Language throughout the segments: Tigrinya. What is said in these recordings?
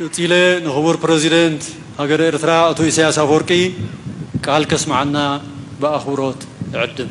ቀጺለ ንክቡር ፕረዚደንት ሃገረ ኤርትራ ኣቶ ኢሳያስ ኣፍወርቂ ቃል ከስምዓና ብኣኽብሮት እዕድም።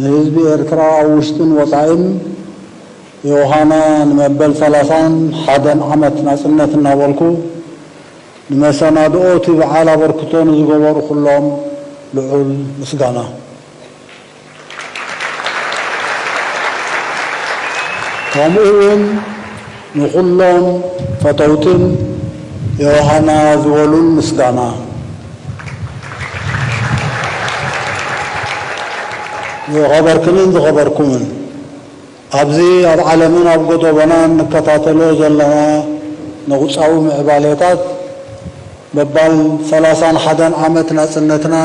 ንህዝቢ ኤርትራ ኣብ ውሽጥን ወጻኢን ዮውሃና ንመበል ሰላሳን ሓደን ዓመት ናጽነት እናበልኩ ንመሰናድኦ'ቲ በዓል ኣበርክቶ ንዝገበሩ ኩሎም ልዑል ምስጋና ከምኡ'ውን ንኹሎም ፈተውትን ዮሃና ዝበሉን ምስጋና ዝኸበርክንን ዝኸበርኩምን ኣብዚ ኣብ ዓለምን ኣብ ጎዶቦናን ንከታተሎ ዘለና ነቁጻዊ ምዕባሌታት በባል ሰላሳን ሓደን ዓመት ናጽነትና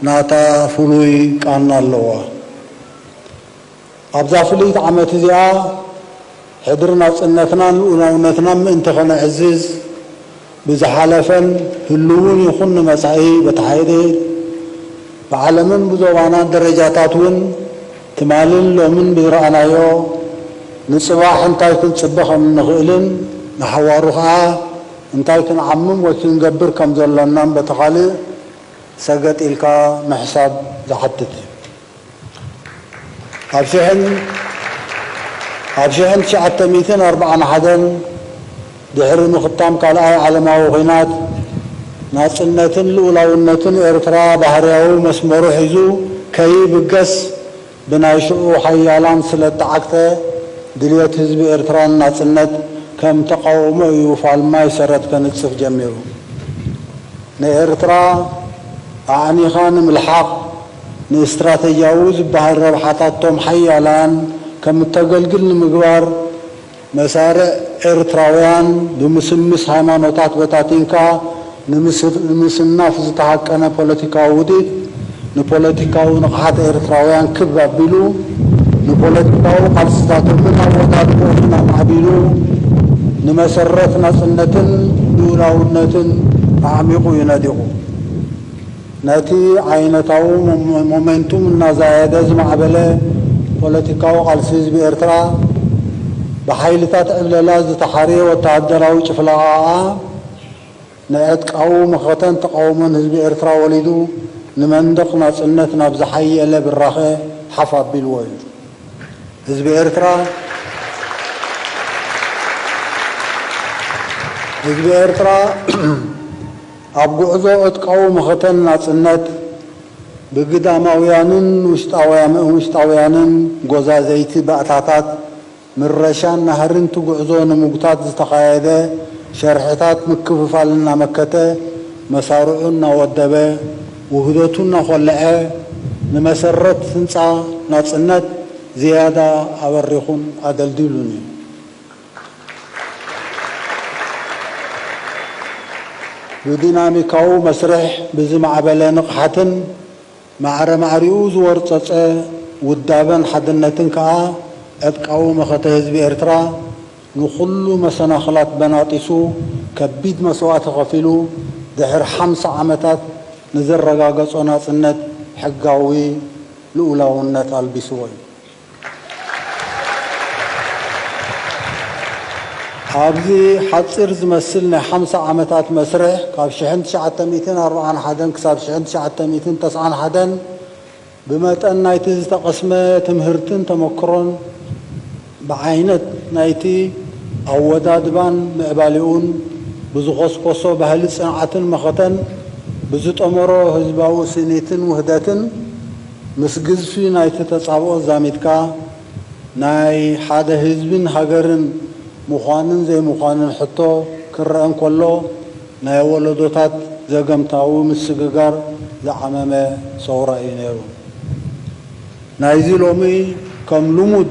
ናታ ፍሉይ ቃና ኣለዋ። ኣብዛ ፍልይቲ ዓመት እዚኣ ሕድሪ ናጽነትናን ልኡላውነትናን ምእንቲ ከነዕዝዝ፣ ብዝሓለፈን ህሉውን ይኹን ንመጻኢ በቲ ሓይሊ ብዓለምን ብዞባናን ደረጃታት እውን ትማልን ሎምን ብዝረኣናዮ ንጽባሕ እንታይ ክንጽበ ከም እንኽእልን ንሓዋሩ ከኣ እንታይ ክንዓምም ወይ ክንገብር ከም ዘሎናን በቲ ካልእ ሰገጥ ኢልካ ምሕሳብ ዝሓትት እዩ። ኣብ ሽሕን ኣብ ሽሕን ትሽዓተ ሚእትን ኣርብዓን ሓደን ድሕሪ ምኽታም ካልኣይ ዓለማዊ ኩናት፣ ናጽነትን ልኡላውነትን ኤርትራ ባህርያዊ መስመሩ ሒዙ ከይብገስ ብናይ ሽዑ ሓያላን ስለ እተዓግተ፣ ድልየት ህዝቢ ኤርትራ ንናጽነት ከም ተቓውሞ እዩ ፋልማይ ሰረት ከንጽፍ ጀሚሩ። ንኤርትራ ኣዕኒኻ ንምልሓቕ፣ ንእስትራተጂያዊ ዝበሃል ረብሓታቶም ሓያላን ከም እተገልግል ንምግባር፣ መሳርዕ ኤርትራውያን ብምስምስ ሃይማኖታት በታቲንካ ንምስናፍ ዝተሃቀነ ፖለቲካዊ ውዲት፣ ንፖለቲካዊ ንቕሓት ኤርትራውያን ክብ ኣቢሉ፣ ንፖለቲካዊ ቃልስታቶምን ኣወዳድቦኦምን ኣማዕቢሉ፣ ንመሰረት ናጽነትን ልኡላውነትን ኣዕሚቑ እዩ ነዲቑ። ነቲ ዓይነታዊ ሞመንቱም እናዛየደ ዝማዕበለ ፖለቲካዊ ቃልሲ ህዝቢ ኤርትራ፣ ብሓይልታት ዕብለላ ዝተሓርየ ወተሃደራዊ ጭፍለቓኣ፣ ንዕጥቃዊ መኸተን ተቓውሞን ህዝቢ ኤርትራ ወሊዱ፣ ንመንደቕ ናጽነት ናብ ዝሓየለ ብራኸ ሓፍ ኣቢልዎ እዩ። ህዝቢ ኤርትራ፣ ህዝቢ ኤርትራ፣ ኣብ ጉዕዞ ዕጥቃዊ መኸተን ናጽነት፣ ብግዳማውያንን ውሽጣውያንን ጎዛዘይቲ ባእታታት ምረሻን ናህሪን'ቲ ጉዕዞ ንምጉታት ዝተኻየደ ሸርሒታት ምክፍፋል እናመከተ፣ መሳርዑ እናወደበ፣ ውህደቱ እናኾለዐ፣ ንመሰረት ህንጻ ናጽነት ዝያዳ ኣበሪኹን ኣደልዲሉን'ዩ። ብዲናሚካዊ መስርሕ ብዝማዕበለ ንቕሓትን ማዕረ ማዕሪኡ ዝወርጸጸ ውዳበን ሓድነትን ከኣ ዕጥቃዊ መኸተ ህዝቢ ኤርትራ ንኹሉ መሰናኽላት በናጢሱ ከቢድ መስዋእቲ ከፊሉ ድሕር ሓምሳ ዓመታት ንዘረጋገጾ ናጽነት ሕጋዊ ልኡላውነት ኣልቢስዎ እዩ። ኣብዚ ሓጺር ዝመስል ናይ ሓምሳ ዓመታት መስርሕ፣ ካብ ሽሕን ትሽዓተ ሚእትን ኣርብዓን ሓደን ክሳብ ሽሕን ትሽዓተ ሚእትን ተስዓን ሓደን፣ ብመጠን ናይቲ ዝተቐስመ ትምህርትን ተመክሮን፣ ብዓይነት ናይቲ ኣወዳድባን ምዕባሌኡን፣ ብዝኾስኮሶ ባህሊ ጽንዓትን መኸተን፣ ብዝጠመሮ ህዝባዊ ስኒትን ውህደትን፣ ምስ ግዝፊ ናይቲ ተጻብኦ ዛሚድካ ናይ ሓደ ህዝቢን ሃገርን ምዃንን ዘይምዃንን ሕቶ ክረኣ እንከሎ ናይ ወለዶታት ዘገምታዊ ምስግጋር ዝዓመመ ሰውራ እዩ ነይሩ። ናይዚ ሎሚ ከም ልሙድ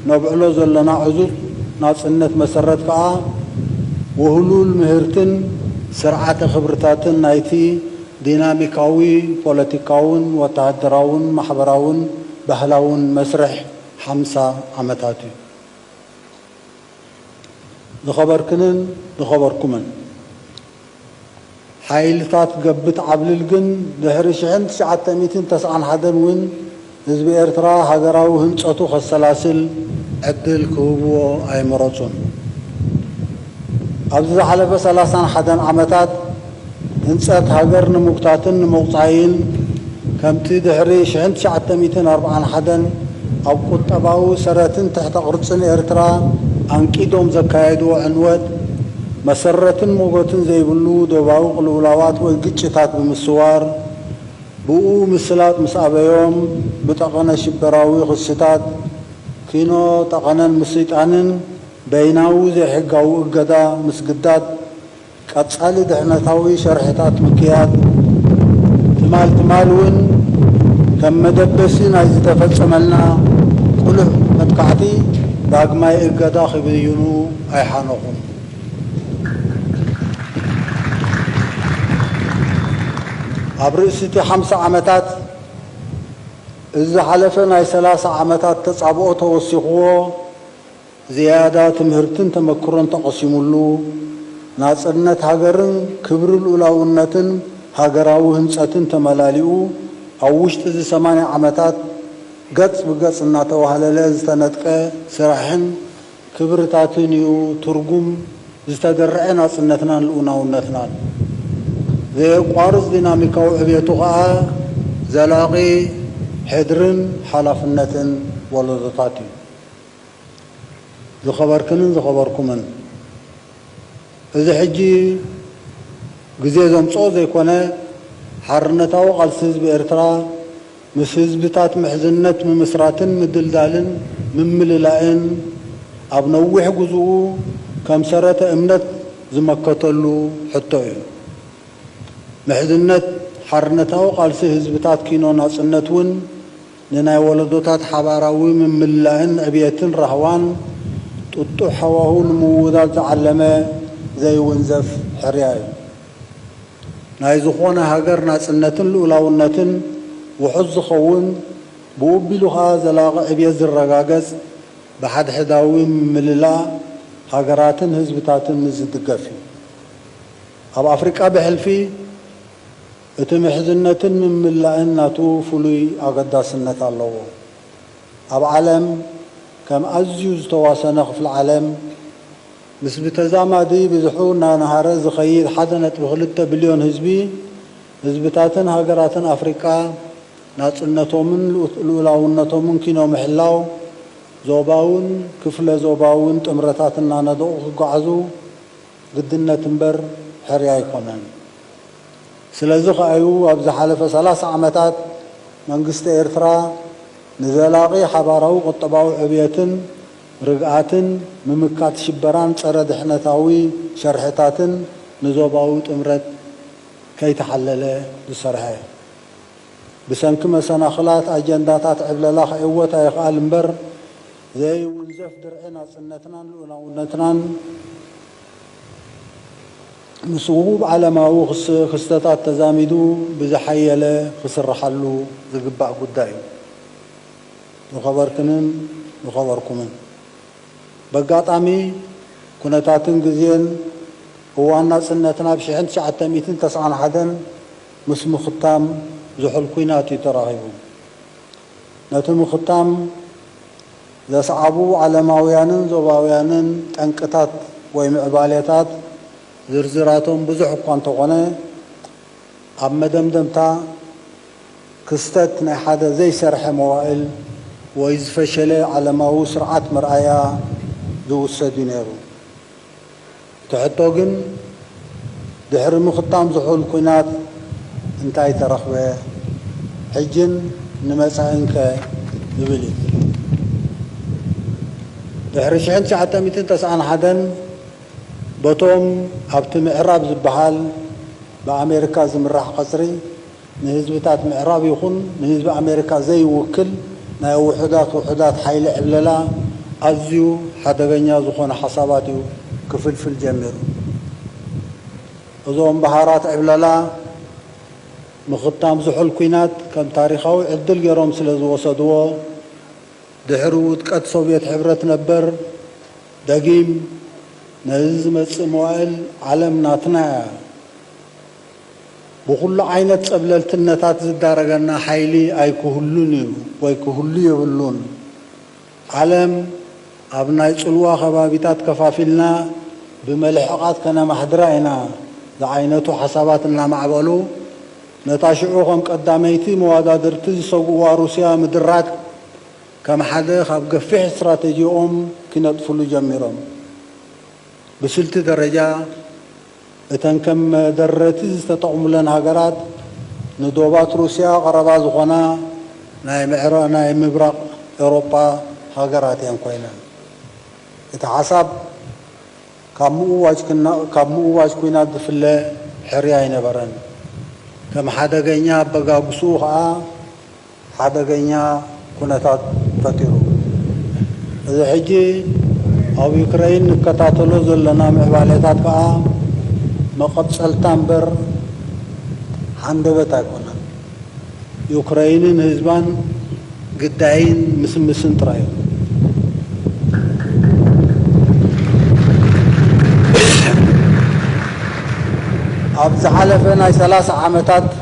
ነብዕሎ ዘለና ዕዙዝ ናጽነት መሰረት ከኣ ውህሉል ምህርትን ስርዓተ ክብርታትን ናይቲ ዲናሚካዊ ፖለቲካውን ወተሃደራውን ማሕበራውን ባህላውን መስርሕ ሓምሳ ዓመታት እዩ። ዝኸበርክንን ዝኸበርኩምን ሓይልታት ገብት ዓብልል ግን ድሕሪ ሽሕን ትሽዓተ ሚእትን ተስዓን ሓደን እውን፣ ህዝቢ ኤርትራ ሃገራዊ ህንጸቱ ከሰላስል ዕድል ክህብዎ ኣይመረጹን። ኣብዚ ዝሓለፈ ሰላሳን ሓደን ዓመታት ህንጸት ሃገር ንምጉታትን ንምቑጻይን ከምቲ ድሕሪ ሽሕን ትሽዓተ ሚእትን ኣርብዓን ሓደን ኣብ ቁጠባዊ ሰረትን ትሕተ ቅርጽን ኤርትራ ኣንቂዶም ዘካየድዎ ዕንወት መሰረትን ሞጎትን ዘይብሉ ዶባዊ ቅልውላዋት ወይ ግጭታት ብምስዋር ብኡ ምስላጥ ምስ ኣበዮም ብጠቐነ ሽበራዊ ክስታት፣ ኪኖ ጠቐነን ምስይጣንን፣ በይናዊ ዘይሕጋዊ እገዳ ምስግዳድ፣ ቀጻሊ ድሕነታዊ ሸርሕታት ምክያድ፣ ትማል ትማል እውን ከም መደበሲ ናይ ዝተፈጸመልና ቅሉዕ መጥቃዕቲ ዳግማይ እገዳ ክብይኑ ኣይሓነኹን። ኣብ ርእሲ'ቲ ሓምሳ ዓመታት፣ እዚ ዝሓለፈ ናይ ሰላሳ ዓመታት ተጻብኦ ተወሲኹዎ፣ ዝያዳ ትምህርትን ተመክሮን ተቐሲሙሉ፣ ናጽነት ሃገርን ክብሪ ልኡላውነትን ሃገራዊ ህንጸትን ተመላሊኡ፣ ኣብ ውሽጢ'ዚ ሰማንያ ዓመታት ገጽ ብገጽ እናተዋህለለ ዝተነድቀ ስራሕን ክብርታትን እዩ ትርጉም ዝተደርዐ ናጽነትናን ልኡናውነትናን። ዘየቋርጽ ዲናሚካዊ ዕብየቱ ከኣ ዘላቒ ሕድርን ሓላፍነትን ወለዶታት እዩ። ዝኸበርክንን ዝኸበርኩምን፣ እዚ ሕጂ ግዜ ዘምጽኦ ዘይኮነ፣ ሓርነታዊ ቃልሲ ህዝቢ ኤርትራ ምስ ህዝብታት ምሕዝነት ምምስራትን ምድልዳልን ምምልላእን ኣብ ነዊሕ ጉዙኡ ከም ሰረተ እምነት ዝመከተሉ ሕቶ እዩ። ምሕዝነት ሓርነታዊ ቃልሲ ህዝብታት ኪኖ ናጽነት እውን ንናይ ወለዶታት ሓባራዊ ምምልላእን ዕብየትን ራህዋን ጥጡሕ ሃዋሁ ንምውዳድ ዝዓለመ ዘይውንዘፍ ሕርያ እዩ። ናይ ዝኾነ ሃገር ናጽነትን ልኡላውነትን ውሑስ ዝኸውን፣ ብኡ ኣቢሉ ከኣ ዘላቒ ዕብየት ዝረጋገጽ ብሓድሕዳዊ ምምልላ ሃገራትን ህዝብታትን ምስ ዝድገፍ እዩ። ኣብ ኣፍሪቃ ብሕልፊ እቲ ምሕዝነትን ምምልላእን ናቱ ፍሉይ ኣገዳስነት ኣለዎ። ኣብ ዓለም ከም ኣዝዩ ዝተዋሰነ ክፍሊ ዓለም፣ ምስ ብተዛማዲ ብዝሑ እናነሃረ ዝኸይድ ሓደ ነጥቢ ክልተ ቢልዮን ህዝቢ፣ ህዝብታትን ሃገራትን ኣፍሪቃ ናጽነቶምን ልኡላውነቶምን ኪኖ ምሕላው፣ ዞባውን ክፍለ ዞባውን ጥምረታት እናነደቑ ክጓዓዙ ግድነት እምበር ሕርያ ኣይኮነን። ስለዚ ከኣ'ዩ ኣብ ዝሓለፈ ሰላሳ ዓመታት መንግስቲ ኤርትራ ንዘላቒ ሓባራዊ ቁጠባዊ ዕብየትን፣ ርግኣትን ምምካት ሽበራን ጸረ ድሕነታዊ ሸርሕታትን ንዞባዊ ጥምረት ከይተሓለለ ዝሰርሐ ብሰንኪ መሰናኽላት ኣጀንዳታት ዕብለላ ክዕወት ኣይኽኣል እምበር ዘኢውንዘፍ ድርዒ ናጽነትናን ልኡላውነትናን ምስ ውሁብ ዓለማዊ ክስተታት ተዛሚዱ ብዝሓየለ ክስርሓሉ ዝግባእ ጉዳይ እዩ። ንኸበርክንን ንኸበርኩምን በጋጣሚ ኩነታትን ግዜን እዋን ናጽነትና ብ ሽሕን ትሽዓተ ሚእትን ተስዓን ሓደን ምስ ምኽታም ዝሑል ኩናት እዩ ተራኺቡ። ነቲ ምኽታም ዘስዓቡ ዓለማውያንን ዞባውያንን ጠንቅታት ወይ ምዕባሌታት ዝርዝራቶም ብዙሕ እኳ እንተኾነ ኣብ መደምደምታ፣ ክስተት ናይ ሓደ ዘይሰርሐ መዋእል ወይ ዝፈሸለ ዓለማዊ ስርዓት መርኣያ ዝውሰድ እዩ ነይሩ። እቲ ሕቶ ግን ድሕሪ ምኽታም ዝሑል ኲናት እንታይ ተረኽበ? ሕጅን ንመጻኢንከ? ዝብል እዩ። ድሕሪ ሽሕን ትሽዓተ ሚእትን ተስዓን ሓደን በቶም ኣብቲ ምዕራብ ዝበሃል ብኣሜሪካ ዝምራሕ ቀጽሪ፣ ንህዝብታት ምዕራብ ይኹን ንህዝቢ ኣሜሪካ ዘይውክል ናይ ውሑዳት ውሑዳት ሓይሊ ዕብለላ ኣዝዩ ሓደገኛ ዝኾነ ሓሳባት እዩ ክፍልፍል ጀሚሩ። እዞም በሃራት ዕብለላ ምኽታም ዝሑል ኲናት ከም ታሪኻዊ ዕድል ገይሮም ስለ ዝወሰድዎ ድሕሪ ውድቀት ሶቭየት ሕብረት ነበር ደጊም ነዚ ዝመጽእ መዋእል ዓለም ናትና እያ፣ ብኹሉ ዓይነት ጸብለልትነታት ዝዳረገና ሓይሊ ኣይክህሉን እዩ ወይ ክህሉ የብሉን። ዓለም ኣብ ናይ ጽልዋ ከባቢታት ከፋፊልና ብመልሕቓት ከነማሕድራ ኢና ዝዓይነቱ ሓሳባት እናማዕበሉ፣ ነታ ሽዑ ከም ቀዳመይቲ መዋዳድርቲ ዝሰግኡዋ ሩስያ ምድራግ ከም ሓደ ካብ ገፊሕ ስትራተጂኦም ኪነጥፍሉ ጀሚሮም። ብስልቲ ደረጃ፣ እተን ከም መደረቲ ዝተጠቕሙለን ሃገራት ንዶባት ሩስያ ቀረባ ዝኾና ናይ ምብራቕ ኤውሮጳ ሃገራት እየን ኮይነን። እቲ ሓሳብ ካብ ምእዋጅ ኲናት ዝፍለ ሕርያ ኣይነበረን። ከም ሓደገኛ ኣበጋግስኡ ከኣ፣ ሓደገኛ ኩነታት ፈጢሩ። እዚ ሕጂ ኣብ ዩክረይን ንከታተሎ ዘለና ምዕባሌታት ከኣ መቐጸልታ እምበር ሃንደበት ኣይኮነን። ዩክረይንን ህዝባን ግዳይን ምስምስን ጥራይ እዩ። ኣብ ዝሓለፈ ናይ ሰላሳ ዓመታት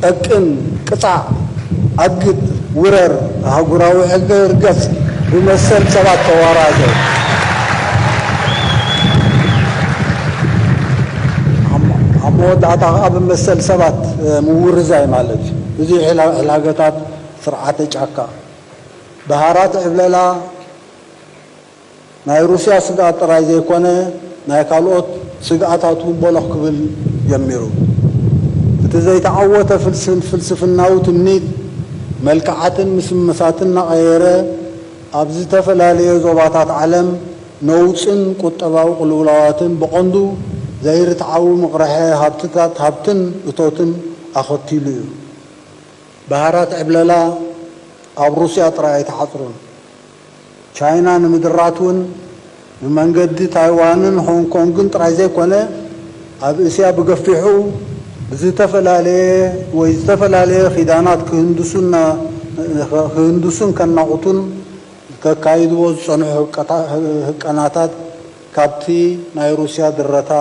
ጠቅም፣ ቅጻዕ፣ ኣግት፣ ውረር፣ ኣህጉራዊ ሕገ ርገጽ፣ ብመሰል ሰባት ተዋራዘ። ኣብ መወዳእታ ከኣ ብመሰል ሰባት ምውርዛይ ማለት እዩ። ብዙሕ ሕላገታት ስርዓተ ጫካ፣ ብሃራት ዕብለላ፣ ናይ ሩስያ ስግኣት ጥራይ ዘይኮነ ናይ ካልኦት ስግኣታት እውን ቦሎኽ ክብል ጀሚሩ። እቲ ዘይተዓወተ ፍልስፍናዊ ትምኒት መልክዓትን ምስምሳትን እናቐየረ ኣብ ዝተፈላለየ ዞባታት ዓለም ነውጽን ቁጠባዊ ቅልውላዋትን ብቐንዱ ዘይርትዓዊ ምቕርሐ ሃብትታት ሃብትን እቶትን ኣኸቲሉ እዩ። ባህራት ዕብለላ ኣብ ሩስያ ጥራይ ኣይተዓጽሩን። ቻይና ንምድራት እውን ብመንገዲ ታይዋንን ሆንግ ኮንግን ጥራይ ዘይኮነ ኣብ እስያ ብገፊሑ ብዝተፈላለየ ወይ ዝተፈላለየ ኪዳናት ክህንድሱን ከናቑቱን ከካይድዎ ዝጸንሑ ህቀናታት ካብቲ ናይ ሩስያ ድረታ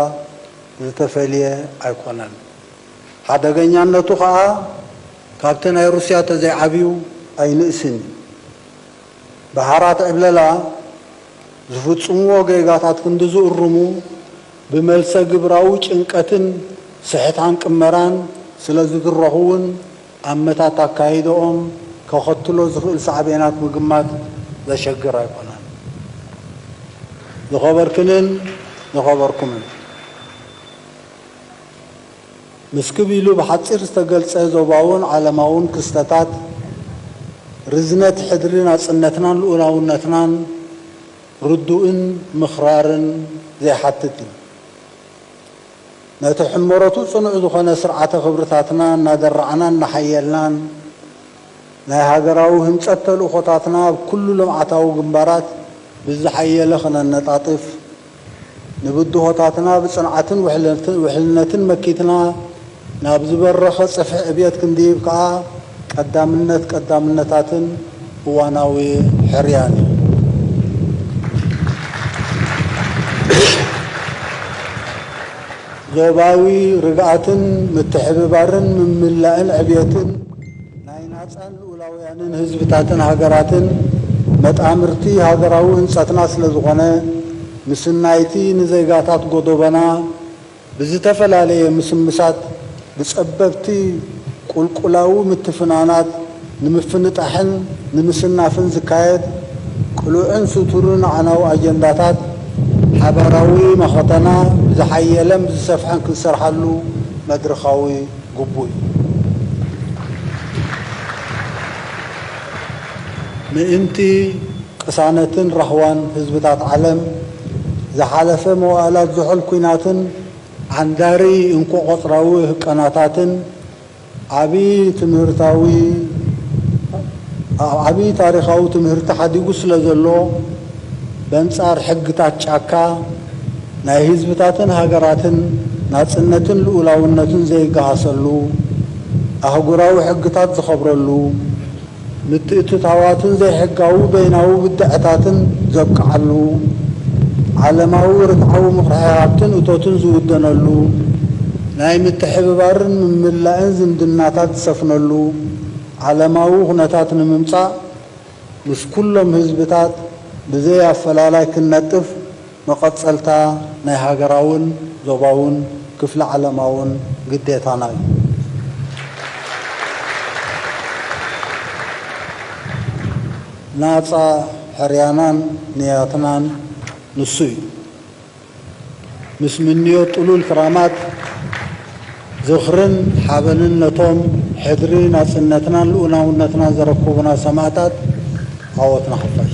ዝተፈልየ ኣይኮነን። ሓደገኛነቱ ከኣ ካብቲ ናይ ሩስያ ተዘይዓብዩ ኣይንእስን እዩ። ብሓራት ዕብለላ ዝፍጽምዎ ጌጋታት ክንዲ ዝእርሙ፣ ብመልሰ ግብራዊ ጭንቀትን ስሕታን ቅመራን ስለ ዝድረኹ ውን ኣመታት ኣካይዳኦም ከኸትሎ ዝኽእል ሳዕቤናት ምግማት ዘሸግር ኣይኮነን። ዝኸበርክንን ዝኸበርኩምን! ንስክብ ኢሉ ብሓጺር ዝተገልጸ ዞባውን ዓለማውን ክስተታት፣ ርዝነት ሕድሪ ናጽነትናን ልኡላውነትናን ርዱእን ምክራርን ዘይሓትት እዩ። ነቲ ሕመረቱ ጽኑዕ ዝኾነ ስርዓተ ክብርታትና እናደራዕናን እናሓየልናን፣ ናይ ሃገራዊ ህንጸት ተልእኾታትና ኣብ ኩሉ ልምዓታዊ ግንባራት ብዝሓየለ ክነነጣጥፍ፣ ንብድሆታትና ብጽንዓትን ውሕልነትን መኪትና ናብ ዝበረኸ ጽፍሒ ዕብየት ክንድይብ ከኣ ቀዳምነት ቀዳምነታትን እዋናዊ ሕርያን እዩ። ዞባዊ ርግኣትን ምትሕብባርን ምምላእን ዕብየትን! ናይ ናጻን ልኡላውያንን ህዝብታትን ሃገራትን መጣምርቲ ሃገራዊ ህንጸትና ስለዝኾነ፣ ምስናይ'ቲ ንዜጋታት ጎዶቦና ብዝተፈላለየ ምስምሳት ብጸበብቲ ቁልቁላዊ ምትፍናናት ንምፍንጣሕን ንምስናፍን ዝካየድ ቅሉዕን ስቱርን ኣዕናዊ ኣጀንዳታት፣ ሓባራዊ መኸተና ብዝሓየለን ብዝሰፍሐን ክንሰርሓሉ መድርኻዊ። ግቡእ እዩ። ምእንቲ ቅሳነትን ራህዋን ህዝብታት ዓለም፣ ዝሓለፈ መዋእላት ዝሑል ኲናትን ዓንዳሪ እንኮ-ቆጽራዊ ህቀናታትን፣ ዓቢ ትምህርታዊ ዓቢ ታሪኻዊ ትምህርቲ ሓዲጉ ስለዘሎ፣ በንጻር ሕግታት ጫካ፣ ናይ ህዝብታትን ሃገራትን ናጽነትን ልኡላውነትን ዘይገሃሰሉ፣ ኣህጉራዊ ሕግታት ዝኸብረሉ፣ ምትእትታዋትን ዘይሕጋዊ በይናዊ ብድዐታትን ዘብቅዓሉ፣ ዓለማዊ ርትዓዊ ምኽርሒ ሃብትን እቶትን ዝውደነሉ፣ ናይ ምትሕብባርን ምምላእን ዝምድናታት ዝሰፍነሉ ዓለማዊ ኩነታት ንምምጻእ፣ ምስ ኩሎም ህዝብታት ብዘይ ኣፈላላይ ክንነጥፍ መቐጸልታ ናይ ሃገራውን ዞባውን ክፍለ ዓለማውን ግዴታና እዩ። ናጻ ሕርያናን ንያትናን ንሱ እዩ። ምስ ምንዮት ጥሉል ክራማት ዝኽርን ሓበንን ነቶም ሕድሪ ናጽነትናን ልኡላውነትናን ዘረከቡና ሰማእታት ዓወት ንሓፋሽ።